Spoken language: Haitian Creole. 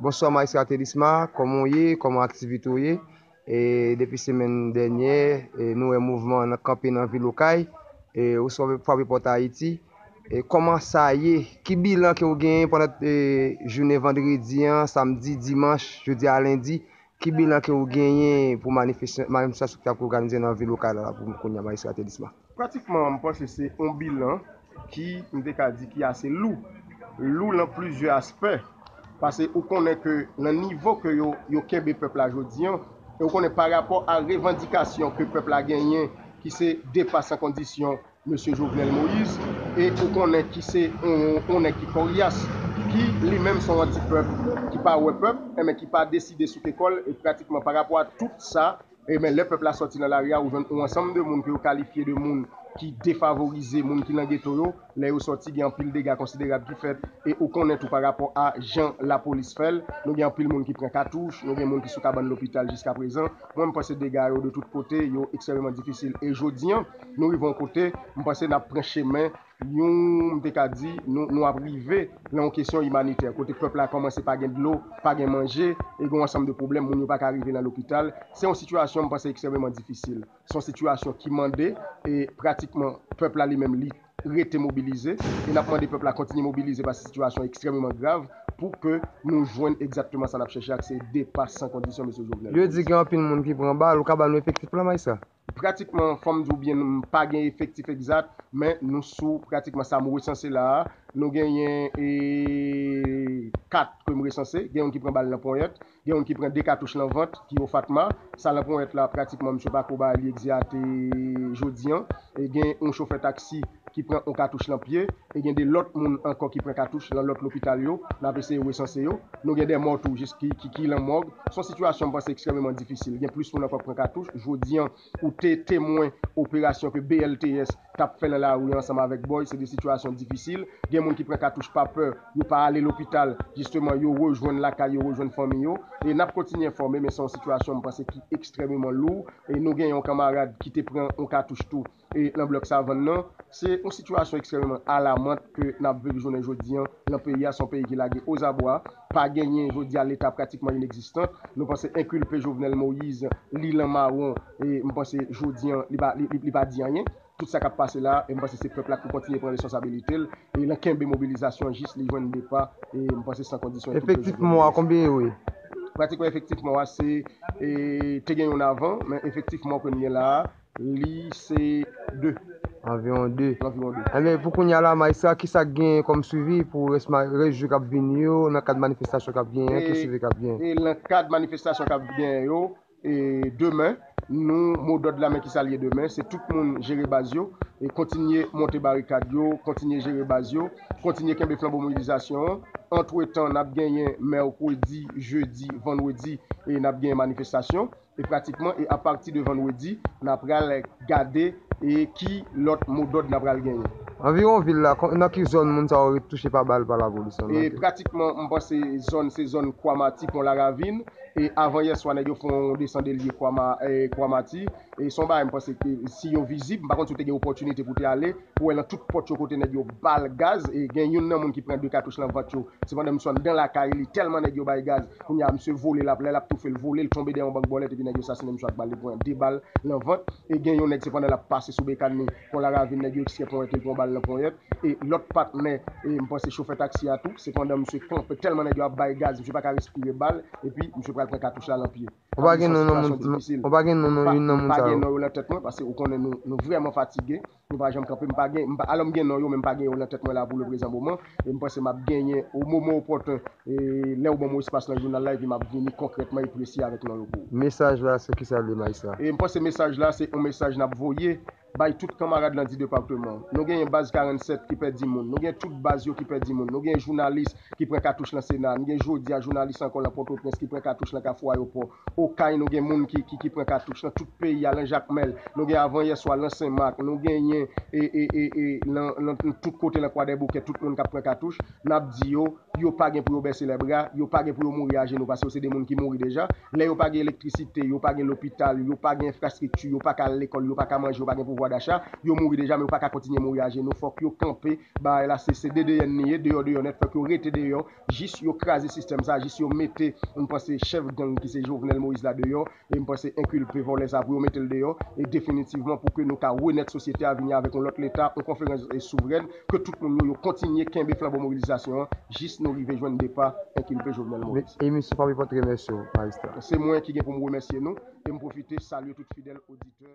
Bonswa maestra Thelisma kòman w ye kòman aktivite w ye depi semèn dènyè nou wè mouvman an kanpe nan vil okay ou swa frape pòt Ayiti kòman sa ye ki bilan ke w genyen pandan jounen vandredi an samdi dimanch jodi a lendi ki bilan ke w genyen pou manifestasyon ki ap òganize nan vil okay la pou kounya maestra Thelisma. Pratikman m panse se yon bilan ki, m te ka di ki ase lou. Lou lan plizyè aspè. Pase ou konnen ke nan nivo ke yo, yo kenbe pèp la jodi an, e ou konnen parapò a revandikasyon ke pèp la genyen ki se depa san kondisyon Mesye Jovenel Moïse, e ou konnen ki se yon, yon nèg ki koryas, ki li menm se yon anti-pèp, ki pa wè pèp, enben ki pa deside souke kò l, e pratikman parapò a tout sa, E men lè pèp la sòti nan lari a, ou jwenn yon ansanm de moun ke yo kalifye de moun ki defavorize, moun ki nan geto yo. Lè yo sòti, gen anpil dega konsiderab ki fèt. E ou konnen tou parapò a jan lapolis fè l, nou gen anpil moun ki pran katouch, nou gen moun ki sou kabann lopital jiskaprezan. Mwen m panse dega yo de tout kote, yo ekstrèmeman difisil. E jodi an, nou rive yon kote, m panse n ap pran chemen. Yon, m te ka di, nou, nou ap rive lan yon kesyon imanitè, kote pèp la kòmanse pa gen dlo, pa gen manje, e gen yon ansanm de pwoblèm, moun yo pa ka rive lan lopital. Se yon sitiyasyon, m panse, ekstrèmeman difisil. Se yon sitiyasyon ki mande, e, pratikman, pèp la li menm li rete mobilize, e n ap mande pèp la kontinye mobilize paske sitiyasyon an ekstrèmeman grav, pou ke nou jwenn ekzatteman sa n ap chèche ak se depa san kondisyon Mesye Jovenel Moïse. Yo di gen anpil moun ki pran bal, ou ka ba nou efektif la, Maistra? Pratikman, fò m di w byen, m pa gen efektif egzat, men nou sou pratikman sa m resanse la a, nou genyen 4 ke m resanse, gen youn ki pran bal nan ponyèt, gen youn ki pran 2 katouch nan vant, ki o Fatma, sa nan ponyèt la, pratikman msye pa ko ba li egzate jodi an, gen yon chofè taksi. ki pran on katouch nan pye e gen 2 lòt moun ankò ki pran katouch lan lòt lopital yo, n ap eseye resanse yo. Nou gen 2 mò tou jis ki ki lan mòg. S on sitiyasyon m panse ekstrèmeman difisil. Gen plis moun ankò k pran katouch. Jodi an, ou te temwen operasyon ke BLTS t ap fè lan lari ansanm avèk Boy. Se 2 sitiyasyon difisil. Gen moun ki pran katouch pa pè, yo pa ale lopital, jisteman yo rejwenn lakay yo, rejwenn fanmi yo. E n ap kontinye enfòme men se on sitiyasyon m panse ki ekstrèmeman lou. E nou gen on kanmarad ki te pran on katouch tou nan blòk Savann nan. Se yon sitiyasyon ekstrèmeman alamant ke n ap viv jounen jodi an lan peyi a. Se yon peyi ki lage ozabwa. Pa genyen jodi a Leta pratikman inegzistan. Nou panse enkilpe Jovenel Moise, li lan mawon e m panse jodi an li pa di anyen. Tout sa k ap pase la a, m panse se pèp la k pou kontinye pran responsabilite l e lan kenbe mobilizasyon jis li jwenn depa e m panse san kondisyon enkilpe Jovenel Moise. Efektif mò a konbyen yo ye? Pratikman efektif mò a se te gen yon avan men efektif mò ke n gen la a Li se 2. Anviwon 2. Enben, pou kounya la, Majistra, ki sa k genyen kòm suivi pou rès rès jou k ap vini yo nan kad manifestasyon k ap genyen an? Ki suivi k ap genyen? E nan kad manifestasyon k ap genyen yo, e demen, nou modòd la men ki sa l ye demen, se tout moun jere baz yo, kontinye monte barikad yo, kontinye jere baz yo, kontinye kenbe flanbo mobilizasyon an. Antretan, n ap genyen mèkredi, jedi, vandredi, e n ap genyen manifestasyon. E pratikman e apati de vandredi n a pral gade e ki lòt modòd n a pral genyen. Anviwon vil la, nan ki zòn moun sa yo ret touche pa bal pa lapolis lan? E pratikman m panse zòn se zòn Kwamati, Pon Laravin e avan yè swa nèg yo fon yon desandelye Kwama, Kwamati e son bagay m panse ke si yo vizib, m pa konn si w te gen opòtinite pou w te ale. Ou wè nan tout pòt yo kote nèg yo bal gaz e gen youn nan moun ki pran 2 katouch nan vant yo se pandan misye anndan lakay li tèlman nèg yo bay gaz kounye a misye vole lap lè lap toufel vole l tonbe dèyè yon bank bòlèt epi nèg yo sasinen misye ak bal li pran 2 bal nan vant e gen yon nèg se pandan lap pase sou bekàn li pon laravin nèg yo ekstrè ponyèt l pran yon bal nan ponyèt e lòt patnè e m panse chofè taksi a tou se pandan misye kanpe tèlman nèg yo ap bay gaz misye paka respire bal epi misye pral pran katouch la nan pye. Ou pa gen non yon moun nan tèt mwen paske ou konnen nou vrèman fatige, nou pa janm kanpe, alò m gen non yo men m pa gen yo nan tèt mwen la pou leprezan moman e m panse m ap genyen o moman opòten lè ou ban mwen espas nan jounal la epi m ap vini konkrètman e presi avèk non yo pou ou. Mesaj la se kisa li Maysa? E m panse mesaj la se yon mesaj n ap voye Bay tout kanmarad lan di departeman. Nou genyen baz 47 ki pèdi moun. Nou gen tout baz yo ki pèdi moun. Nou gen jounalis ki pran katouch lan sena. Nou gen jodi a jounalis ankò lan pòtoprens ki pran katouch lan kafou ayopò. Okay nou gen moun ki ki pran katouch lan tout peyi a lan jakmèl. Nou gen avan yè swa lan senmak. Nou genyen e e e e lan lan tout kote lan kwadèboukè tout moun kap pran katouch. N ap di yo, yo pa gen pou yo bese lè bra, yo pa gen pou yo mouri ajenou pase yo se de moun ki mouri deja. Lè yo pa gen elektrisite, yo pa gen lopital, yo pa gen enfrastrikti, yo pa ka al lekòl, yo pa ka manje, yo pa gen pouvwa dacha, yo mouri deja men yo pa ka kontinye mouri ajenou. Fòk yo kanpe bagay la se se dedeyenn li ye, deyò deyò nèt, fòk yo rete deyò jis yo kraze sistèm sa a, jis yo mete m panse chèf gang ki se Jovenel Moïse la deyò. E m panse enkilpe vòlè sa pou yo mete l deyò e definitivman pou ke nou ka renèt sosyete a vini avèk yon lòt leta, yon konferans souvrèn ke tout moun yo yo kontinye kenbe flanbo mobilizasyon an jis nou rive jwenn depa enkilpe Jovenel Moise. E misye pa bliye pote remèsye w Majistra. Se mwen ki gen pou m remèsye nou e m pwofite salye tout fidèl oditè.